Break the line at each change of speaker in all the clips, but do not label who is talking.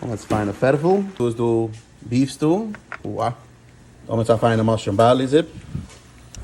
האבן אונז פיינע פערפל. דא איז דא ביפס דא. אוה האבן אונז א פיינע מאשרום בארלי זופ.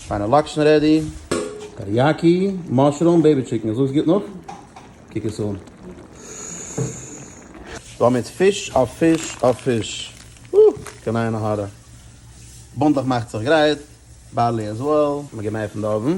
פיינע לאקשן רעדי. טעריאקי, מאשרום, בעיבי טשיקן. זאגסט גוט נאך. קוק עס אן. דא האבן אונז פיש אויף פיש אויף פיש. אוה קיין עין הרע. בונדלעך מאכט זיך גרייט. בארלי עז וועל. מ'געט מער פון די אויבן.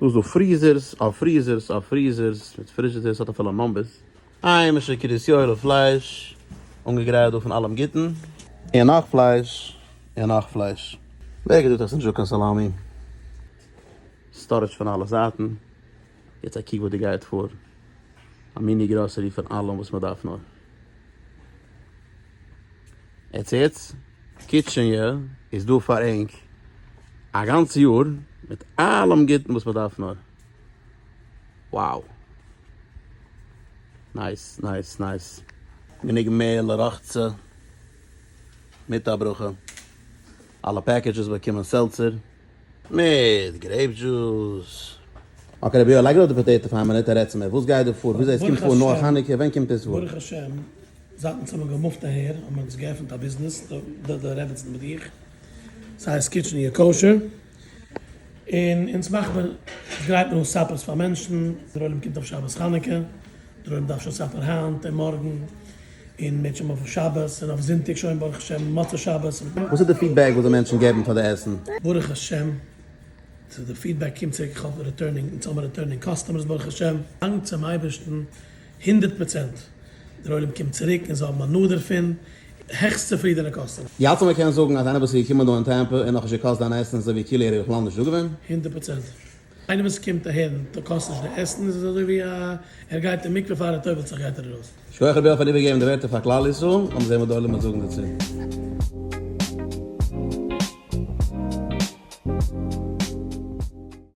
דא איז דא פריזערס על פריזערס על פריזערס מיט פריזשידערס האט אפילו נאמבערס. היימישע קרית יואל'ע פלייש, אנגעגרייט דא פון אלעם גוטן. און נאך פלייש, און נאך פלייש. ווער האט געזאגט אז עס איז נישט דא קיין סאלאמי? סטארעדזש פון אלע זייטן. יעצט א קוק וואס דא גייט פאר. א מיני גראסערי פון אלעם וואס מען דארף נאר. עטס הערטס? קיטשעניע איז דא פאר ענק א גאנץ יאר מיט אלעם גוטן וואס מען דארף נאר. wow! נייס נייס נייס! גענוג מער לרחצה מיט א ברכה. אלע פעקעדזשעס באקומען סעלצער. מיט גרעיפ דזשוס. אקעי רביה לייג אראפ די פאטעיטא פאר א מינוט און רעד צו מיר וואס גייט דא פאר וויאזוי עס קומט פאר נאך חנוכה ווען קומט עס פאר. ברוך השם זייט אונז האבן געמופט אהער האבן מיר אונז געעפנט א ביזנעס די די רעבעצן מיט איך ס'הייסט קיטשען יו כשר און אונז מאכט מען אונז גרייט מען אן סאפערס פאר מענטשן דער עולם קומט אויף שבת חנוכה דער עולם דארף שוין סאפער היינט און מארגן. און מ'עט שוין אויף שבת און אויף זונטאג שוין ברוך השם מוצאי שבת. וואס איז די פידבעק וואס די מענטשן געבן פאר די עסן? ברוך השם ס'איז די פידבעק קומט צוריק כ'האב ריטורנינג אונז האבן ריטורנינג קאסטומערס ברוך השם. דאנק צום אייבערשטן הונדערט פראצענט דער עולם קומט צוריק און זיי האבן הנאה דערפון, העכסט צופרידענע קאסטומער. די האלטסט אז מ'קען זאגן אז איינער וואס איז געקומען דא אין טעמפא און נאכנישט געקאסט דיין עסן אזוי ווי כאילו ער איז בכלל נישט דא געווען? הונדערט פראצענט. איינער וואס קומט אהער און טא קאסט נישט די עסן איז עס אזוי ווי א ער גייט אין מקווה פאר ער טובלט זיך גייט ער ארויס. שכוח רביה פארן איבערגעבן די ווערטער פאר כלל ישראל, לאמיר זעהן וואס די עולמות זאגן דערצו.